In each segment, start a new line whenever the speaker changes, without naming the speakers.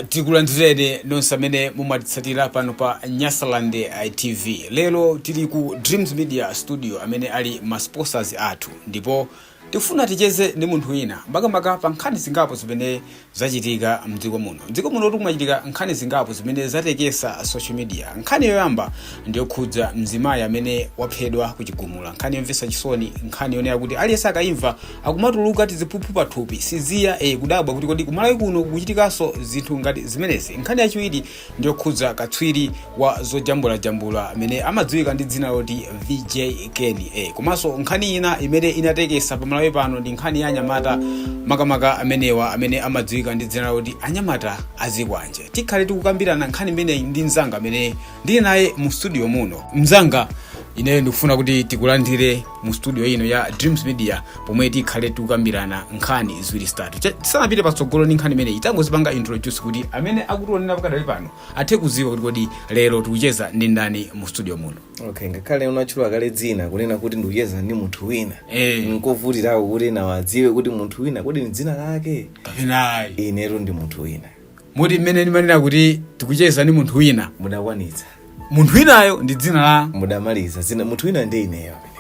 tikulandireni nonse amene mumatitsatira pano pa nyasaland tv lero tili ku dreams media studio amene ali ma sponsors athu ndipo tikufuna ticheze ndi munthu wina makamaka pa nkhani zingapo zimene zachitika mdziko muno mdziko muno mukumachitika nkhani zingapo zimene zatekesa social media nkhani yoyamba ndiyokhudza mzimayi amene waphedwa ku chigumula nkhani yomvetsa chisoni nkhani yonena kuti aliyense akayimva akumatuluka tiziphuphu pathupi zija e, kudabwa kuti kodi kumalawi kuno kukuchitikanso zinthu ngati zimenezi nkhani yachiwiri ndiyokhudza katswiri wa zojambulajambula amene amadziwika ndi dzina loti vj ken e, komanso nkhani ina imene inatekesa pamalawi pano ndi nkhani ya anyamata makamaka amenewa amene amadziwika ndi dzina loti anyamata azikwanje tikhale tikukambirana nkhani imeneyi ndi mzanga amene ndili naye mu studio muno mzanga ineyo ndikufuna kuti tikulandire mu studio ino ya dreams media pomwe tikhale tikukambirana nkhani ziwiri zitatu Che- tisanapite patsogolo ndi nkhani imeneyi tangodzipanga introduce kuti amene akutionera pakadali pano athe kuziwa kuti kodi lero tikucheza ndi ndani mu studio muno okay ngakhale
unatchula kale dzina kunena kuti ndikucheza ndi munthu wina Eh. nkovutirako kuti nawo adziwe kuti munthu wina kodi ni dzina lake kapena ayi
inetu ndi munthu
wina moti mmene
ndimanena kuti tikucheza ndi munthu wina
mudakwanitsa munthu
winayo ndi dzina la mudamaliza dzina
munthu wina ndi ineyo amene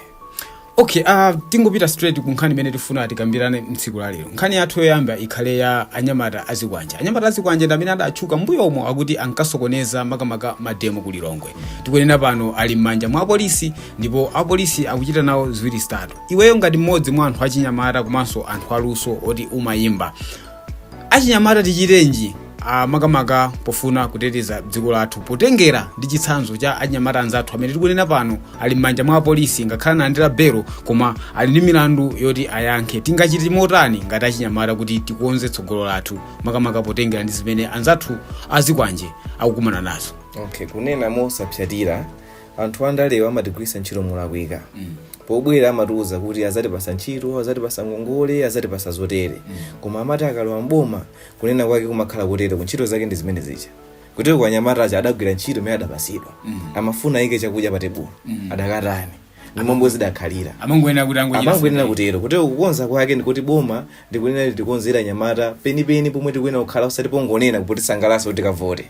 okay uh, tingopita straight ku nkhani imene tifuna tikambirane mtsiku la lero nkhani yathu yoyamba ikhale ya anyamata azikwanje anyamata azikwanje ndi amene adatchuka mbuyomu akuti ankasokoneza makamaka mademo ku lilongwe tikunena pano ali m'manja mwa apolisi ndipo apolisi akuchita nawo ziwiri zitatu iweyo ngati mmodzi mwa anthu achinyamata komanso anthu aluso oti umayimba achinyamata tichitenji ah, makamaka pofuna kuteteza dziko lathu potengera ndi chitsanzo cha achinyamata anzathu amene tikunena pano ali m'manja mwa apolisi ngakhale analandira belo koma ali ndi milandu yoti ayankhe tingachite motani ngati achinyamata kuti tikonze tsogolo lathu makamaka potengera ndi zimene anzathu azikwanje akukumana nazo okay kunena
mosapsatira anthu andalewa amatigwiritsa ntchito molakwika pobwera amatiuza kuti azatipasa ntchito azatipasa ngongole azatipasa zotere koma amati akalowa mboma kunena kwake kumakhala kotere ku ntchito zake ndi zimene zija kutero kwa anyamata aja adagwira ntchito imene adapasidwa amafuna ayike chakudya pa tebulo adakatani ndi momwe zidakhalira amangoyenera kuti angochita amangoyenera kutero kutero kukonza kwake ndikuti boma likunena litikonzere anyamata penipeni pomwe tikuyenera kukhala osati pongonena kutisangalatsa kuti tikavote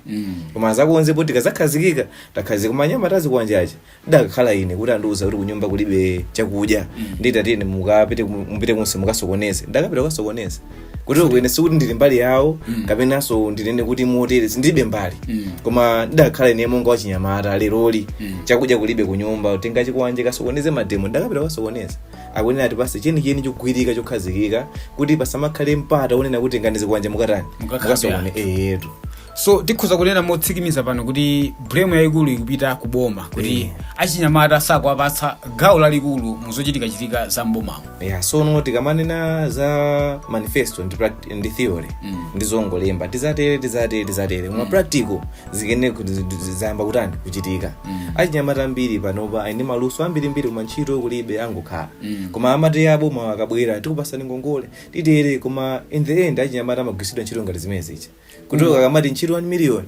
koma azakonze poti tikazakhazikika takhazika koma anyamata azikwanje ndikadakhala ine kuti andiuza kuti kunyumba kulibe chakudya ndiye tiyeni mukapite ku- mupite kunse mukasokoneze ndakapita kukasokoneza kutero kwene sikuti ndili mbali yawo kapenanso ndinene kuti motere sindilibe mbali koma ndidakhala ine monga wachinyamata leroli chakudya kulibe kunyumba tenga chikwanje kasokoneze mademo ndakapita kukasokoneza akuyenera atipatse chenicheni chogwirika chokhazikika kuti pasamakhale mpata wonena kuti tengani zikwanje mukatani Mukakhape mukasokoneze eyetu so
tikhoza kunena motsikimiza pano kuti blame yayikulu ikupita ku boma kuti Eh. achinyamata sakuwapatsa gawo lalikulu mu zochitikachitika za mbomamo yeah, so no tikamanena
za manifesto ndi, pract- ndi theory Mm. ndi zongolemba tizatere tizatere tizatere koma practical yake ndi kuti zi- zi- zayamba kutani kuchitika Mm. achinyamata ambiri panopa ali ndi maluso ambirimbiri koma ntchito kulibe angokhala Mm. koma amati boma likabwera tikupasani ngongole titere koma in the end achinyamata amagwiritsidwa ntchito ngati zimene zicha kuti akamati ntchito 1 million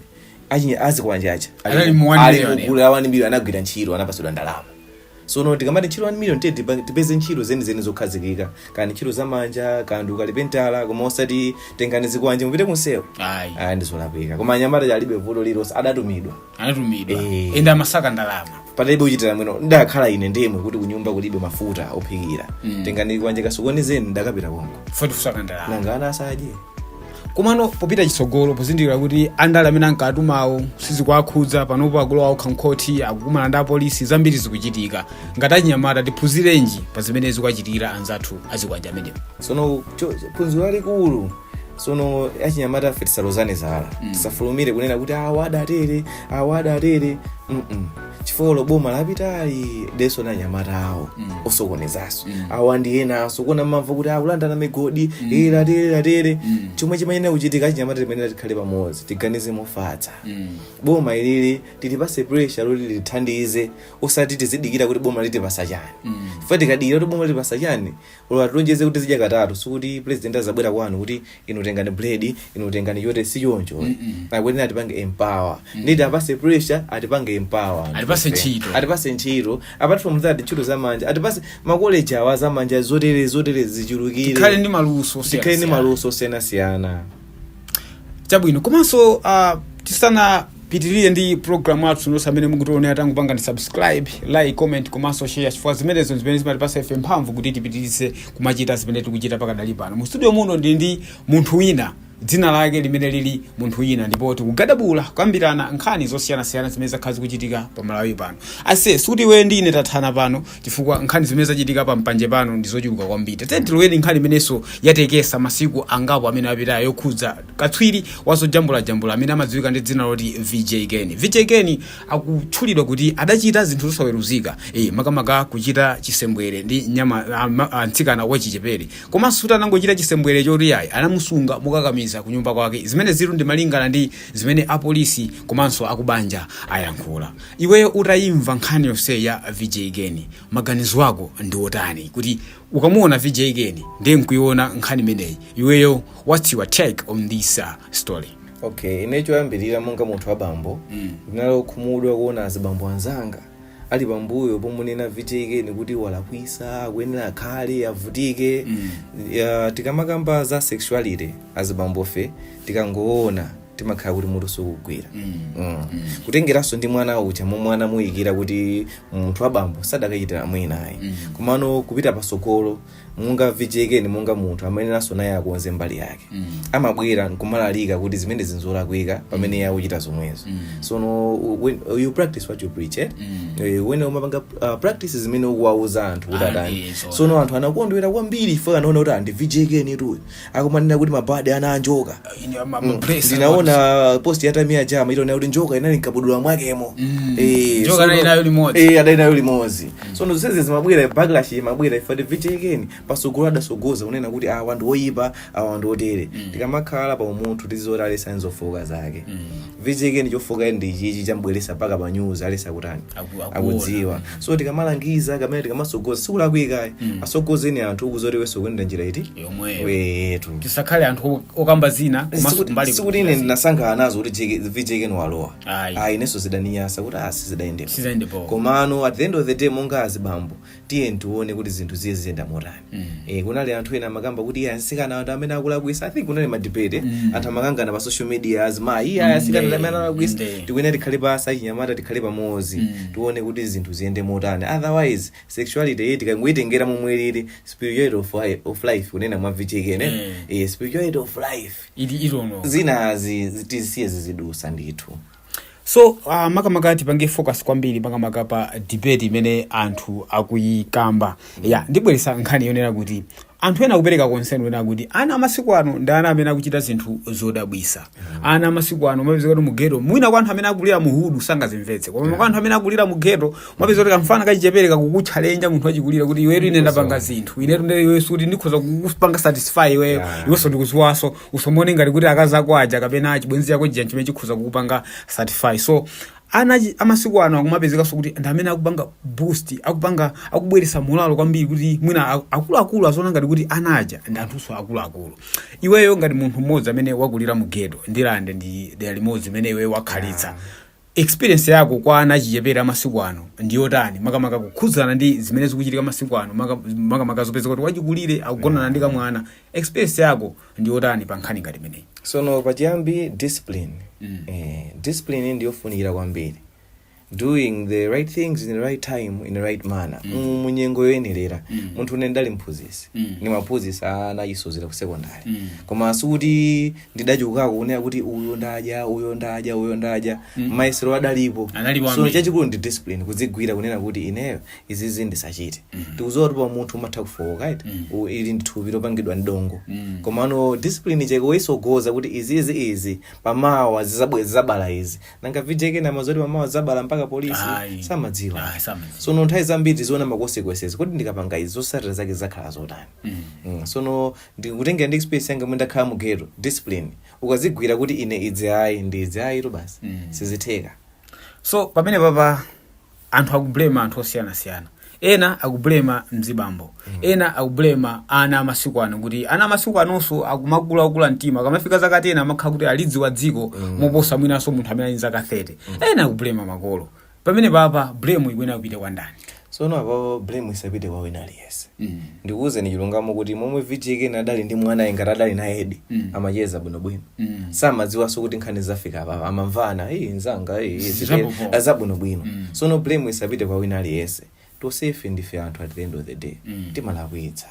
achinya- azikwanje aja Anali mu one million, ali mgulu la 1 million anagwira ntchito anapatsidwa ndalama so no tikamati ntchito 1 million tiye tipa- tipeze ntchito zenizeni zokhazikika kaya ndi ntchito zamanja kaya ndi ukalipentala koma osati tengani zikwanje mupite kunsewo ayi aya ndizolakwika koma anyamata aja alibe vuto lilonse adatumidwa anatumidwa Eh. ende amasaka ndalama analibe kuchitira mwina ndikadakhala ine nditumidwe kuti kunyumba kulibe mafuta ophikira Mm. tengani chikwanje kasokonezeni ndakapita konko poti kusaka ndalama
nanga ana asadye
komano
popita chitsogolo pozindikira kuti andale amene ankatumawo sizikuwakhudza panopo akulowa okha m'khoti akukumana ndi apolisi zambiri zikuchitika ngati achinyamata tiphunzirenji pa zimene zikuwachitikira anzathu azikwanje amenewo sono cho-
phunziro lalikulu sono achinyamatafe tisalozane zala Mm. tisafulumire kunena kuti awa adatere awa adatere Mm-mm. chifukwa olo boma lapitali lidalinso ndi anyamata awo Mm. osokonezanso Mm. awa ndi enanso ku- mumamva kuti akulandana migodi Mm. eh, zatere zatere Mm. chomwe chimayenera kuchitika achinyamata timayenera tikhale pamodzi tiganize mofatsa Mm. boma ilili tilipase pressure loti litithandize osati tizidikira kuti boma litipasa chani Mm. chifukwa tikadikira kuti boma litipasa chani Olo atilonjeze kuti tizidya katatu, sikuti president azabwera kwanu kuti inu tengani bread, inu tengani chote si choncho. Akuyenera atipange empower. Nde tiwapase pressure, atipange empower. anthu Atipase ife. ntchito. Atipase ntchito. Apart from that ntchito za manja, atipase makoleji awa za manja zotere zotere zichulukire. Tikhale ndi maluso. Tikhale ndi maluso osiyanasiyana.
chabwino komanso uh, tisanapitirire ndi program yathu nonse amene mukutionera tangopangani subscribe like comment komanso share chifukwa zimenezo ndi zimene zimatipasa ife mphamvu kuti tipitirize kumachita zimene tikuchita pakadali pano mu studio muno ndili ndi munthu wina dzina lake limene lili munthu wina ndipo tikugadabula kukambirana nkhani zosiyanasiyana zimene zakhala zikuchitika pa malawi pano ase sikuti iwe ndi ine tathana pano chifukwa nkhani zimene zachitika pa mpanje pano ndi zochuluka kwambiri tatene tilowere nkhani imenenso yatekesa masiku angapo amene apitayo yokhudza katswiri wazojambulajambula amene amadziwika ndi dzina loti vj keni vj keni akutchulidwa kuti adachita zinthu zosaweruzika e, makamaka kuchita chisembwere ndi nyama a- ma- a- mtsikana wachichepere komanso kuti anangochita chisembwere choti ayi anamusunga mokakamiza ku nyumba kwake zimene zili ndi malingana ndi zimene apolisi komanso akubanja ayankhula Iweyo utayimva nkhani yonse ya VJ Keni, maganizo ako ndi otani? Kuti ukamuona VJ Keni ndi nkuiona nkhani imeneyi, iweyo what's your take on this uh, story? okay ine
choyambirira monga munthu wa bambo Mm. ndinali okhumudwa kuona azibambo anzanga ali pambuyo pomunena VJ Keni kuti walakwisa akuyenera akhale avutike Mm. Ya, tikamakamba za sexuality azibambofe tikangoona timakhala kuti mutu sukugwira Mm. kutengeranso ndi mwana uja momwe anamuyikira kuti munthu wabambo sadakachitira mwina ayi komano kupita pasogolo monga VJ Keni monga munthu amayeneranso naye akonze mbali yake amabwera nkumalalika kuti zimene izi nzolakwika pamene iye akuchita zomwezo sono, when, you practice what you preach eh? Eh, when umapanga uh, practice zimene ukuwauza anthu kuti Ah, atani eh, so sono anthu anakondwera kwambiri ife kuona kuti a ndi VJ Kenitu uyo akumanena kuti mabadi ana a njoka Ine ama- ama bless, ndinaona post ya Tamia Ja itaonera kuti njoka inali mkabudula mwakemo Mm. Eh, Njoka sono- anali
nayo limodzi. Eh, anali nayo limodzi
sono zonsezi zimabwera backlash imabwera ife VJ Keni pasogolo adasogoza kunena kuti awa ndi oyipa awa ndi otere tikamakhala pa umunthu tizioneratu aliyense ali nzofooka zake VJ Keni chofooka ndi ichichi chambweresa mpaka pa news aliyense akutani Aku- akuona. akudziwa so tikamalangiza kamene tikamasogoza sikulakwika Mm. asogoze anthu ukuziwa kuti iweso ukuyenda njira iti yomweyo wetu tisakhale
anthu okamba zina komanso kumbali sikuti ine
ndinasangalala nazo kuti jeke- VJ Keni walowa Ayi. ayi inenso zidaniyasa kuti a zidayendera sizidayende bwino komano at the end of the day monga azibambo tiyeni tione kuti zinthu ziye ziyenda motani mm. e, kunali anthu ena amakamba kuti iye asikana anthu amene akulakwisa i think kunali madebate mm. anthu amakangana pa social media azimayi iye asikana mm. amene akulakwisa mm. tikuyenera tikhale pasi achinyamata tikhale pamodzi mm. tione kuti zinthu ziyende motani otherwise sexuality iyi tikangoyitengera momwe lili spirituality of, life, of life kunena mwa VJ Keni mm. e, spirituality of life ili ilono zinazi tisiye zizidusa ndithu
so uh, makamaka tipange focus kwambiri makamaka pa debate imene anthu akuyikamba ya ndibweresa nkhani yonena kuti anthu ena akupereka konseni onena kuti ana amasiku ano ndi ana amene akuchita zinthu zodabwisa ana amasiku ano mapezeka kuti mugeto mwina kwa anthu amene akulira muhudu sangazimvetse koma kwa anthu amene akulira mugeto mapezeka kuti kamfana kachichepere kakukutcha lenja munthu wachikulire kuti iwetu ine ndapanga zinthu inetu nde iwe sikuti ndikhoza kukupanga satisfy iweyo Yeah. iwenso ndikuziwaso usomone ngati kuti akazi ako aja kapena achibwenzi chako chija chimene chikhoza kukupanga satisfy so ana achi- amasiku ano akumapezekanso kuti ndi amene akupanga boost akupanga akubweretsa molalo kwambiri kuti mwina a- akuluakulu aziona ngati kuti ana aja ndi anthunso akuluakulu iweyo ngati munthu mmodzi amene wakulira mu ghetto Ndirande ndi dera limodzi imene iweyo wakhalitsa Experience yako kwa ana achichepere amasiku ano ndi yotani makamaka kukhudzana ndi zimene zikuchitika masiku ano maka- makamaka zopeza kuti wachikulire akugonana ndi kamwana experience yako ndi yotani pa nkhani ngati imeneyi sono pachiyambi
discipline Mm. eh, discipline ndiyofunikira kwambiri doing the right things in the right time in the right manner mm. munyengo yoyenerera Mm. munthune ndali mphunzisi Mm. ndimaphunzisa ana achisodzera ku secondary Mm. koma sikuti ndidachokako kunena kuti uyo ndadya uyo ndadya uyo ndadya mm. mayesero adalipo Analipo so ambiri. chachikulu ndi discipline kudzigwira kunena kuti ineyo izizi ndisachite mm. tikuziwa kuti pa umunthu umatha kufowoka right mm. U- ili ndi thupi lopangidwa ndi dongo mm. komano discipline cheke woyisogoza kuti izizi izi pamawa zizabwe- zizabala izi nanga VJ Ken amadziwa zoti pamawa zizabala mpaka polisi Ayi. samadziwa Ayi, samadziwa. sono nthawi zambiri tiziona ma consequences kodi ndikapanga izi zosatira zake zakhala zotani mm. sono ndikutengera ndi experience yanga momwe ndakhala mu ghetto discipline ukazigwira kuti ine izi ayi ndi izi ayitu basi Mm. sizitheka so
pamene papa anthu akublema anthu osiyanasiyana ena akublema mzibambo ena akublema ana amasiku ano kuti ana amasiku anonso akumakula okula mtima akamafika zaka 10 amakhala kuti alidziwa dziko moposa mwinanso munthu amene ali ndi zaka 30 ena akublema makolo pamene papa blame ikuyenera kupita kwa ndani
sono apapo blame isapite kwa wina aliyense ndikuwuzeni chilungamo kuti momwe VJ Ken adali ndi mwanayu ngati adali naye edi amacheza bwinobwino samadziwanso kuti nkhani zafika apapa amamvana iyi nzanga iyi, zabwinobwino sono blame isapite kwa wina aliyense tosefe ndife anthu at the end of the day timalakwitsa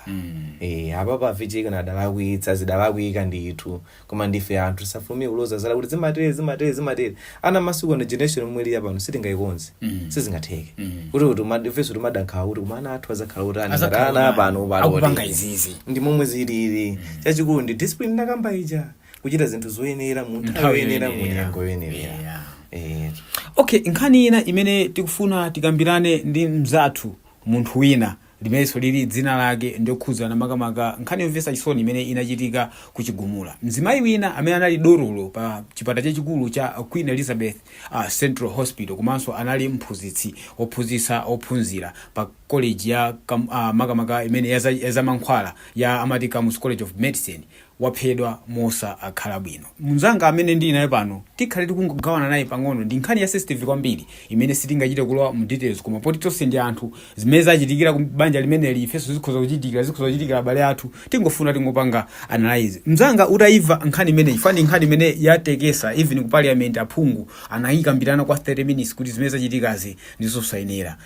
eh apapa a VJ Ken adalakwitsa zidalakwika ndithu koma ndife anthu tisafulumire kuloza zala kuti zimatere zimatere zimatere ana amasiku ano generation yomwe ili yapano sitingayikonze sizingatheke kuti kuti ifenso timada nkhawa kuti koma ana athu azakhala kuti ana Azakhala ana kuti apano akupanga izizi.
ndi momwe zilili
chachikulu ndi discipline ndakamba ija kuchita zinthu zoyenera mu nthawi Nthawi yoyenera mu yoyenera. nyengo
yoyenera Yeah. Eh, okay nkhani ina imene tikufuna tikambirane ndi mzathu munthu wina limenenso lili dzina lake ndi yokhudzana makamaka nkhani yomvetsa chisoni imene inachitika ku Chigumula mzimayi wina amene anali dotolo pa chipatala chachikulu cha queen elizabeth uh, central hospital komanso anali mphunzitsi ophunzitsa ophunzira pa college ya kam, uh, makamaka imene yaza- yazamankhwala ya amati Kamuzu college of medicine waphedwa mosakhala bwino. Mnzanga amene ndili naye pano tikhale tikungogawana naye pang'ono ndi nkhani ya sensitive kwambiri imene sitingachite kulowa mu details koma poti tonse ndi anthu zimene zachitikira ku banja limeneli ifenso zikhoza kuchitikira zikhoza kuchitikira abale athu tingofuna tingopanga analyze. Mnzanga udayimva nkhani imeneyi chifukwa ndi nkhani imene yatekesa even ku parliament aphungu anayikambirana kwa 30 minutes kuti zimene zachitikazi ndi zosayenera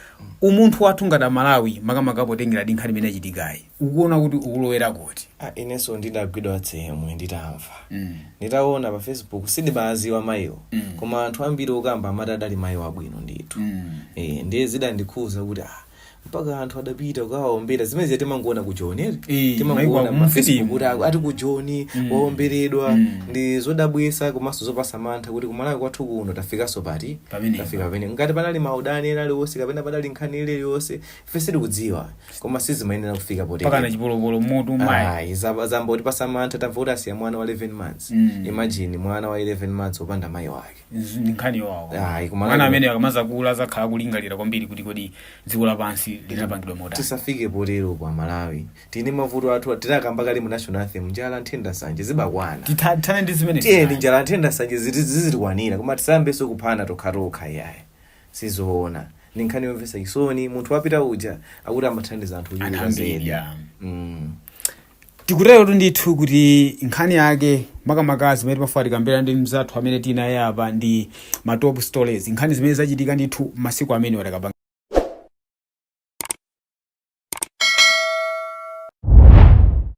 umunthu wathu ngati a Malawi makamaka potengera ndi nkhani imene yachitikayi. ukuona kuti ukulowera kuti Ah, inenso
ndidagwidwa tsemwe nditamva Mm. nditaona pa facebook sindimaziwa mayiwo Mm. koma anthu ambiri okamba amati adali mayi wabwino ndithu Mm. Eh, ndiye zidandikhuza kuti ah, mpaka anthu adapita kukawaombera zimene zija timangoona ku joni eti? Eh, maiko timangoona pa facebook kuti aku- ati ku joni Mm. waomberedwa Mm. ndi zodabwisa komanso zopasa mantha kuti kumalawi kwathu kuno tafikanso poti Pamenepa. tafika pamene ngati panali maudani ena aliwonse kapena panali nkhani iliyonse ife sitikudziwa koma sizimayenera kufika mpakana potero chipolopolo m'mutu
mayi ayi zamba- zambotipasa
mantha tamva kuti asiya mwana wa 11 months Mm. imagine mwana wa 11 months opanda mayi wake Nzu- ndi nkhani yowawa
Ayi, koma mwana nkhani- amene akamazakula azakhala kulingalira kwambiri kuti kodi dziko lapansi linapangidwa motani tisafike potero
a malawi tili ndi mavuto athu tinakamba kale mu national anthem njala nthenda nsanje zibakwana Titha- tithane ndi zimene
tiyeni njala nthenda nsanje
ziti- zizitikwanira koma tisayambenso kuphana tokhatokha iyayi sizoona ndi nkhani yomvetsa chisoni munthu wapita uja akuti amathandiza anthu Anthu ochuluka zedi ambiri, ah.
Mm. tikuterotu ndithu kuti nkhani yake makamaka zimene timafuna tikambirane ndi mzathu amene tinaye apa ndi ma top stories nkhani zimene zachitika ndithu m'masiku amene watakapanga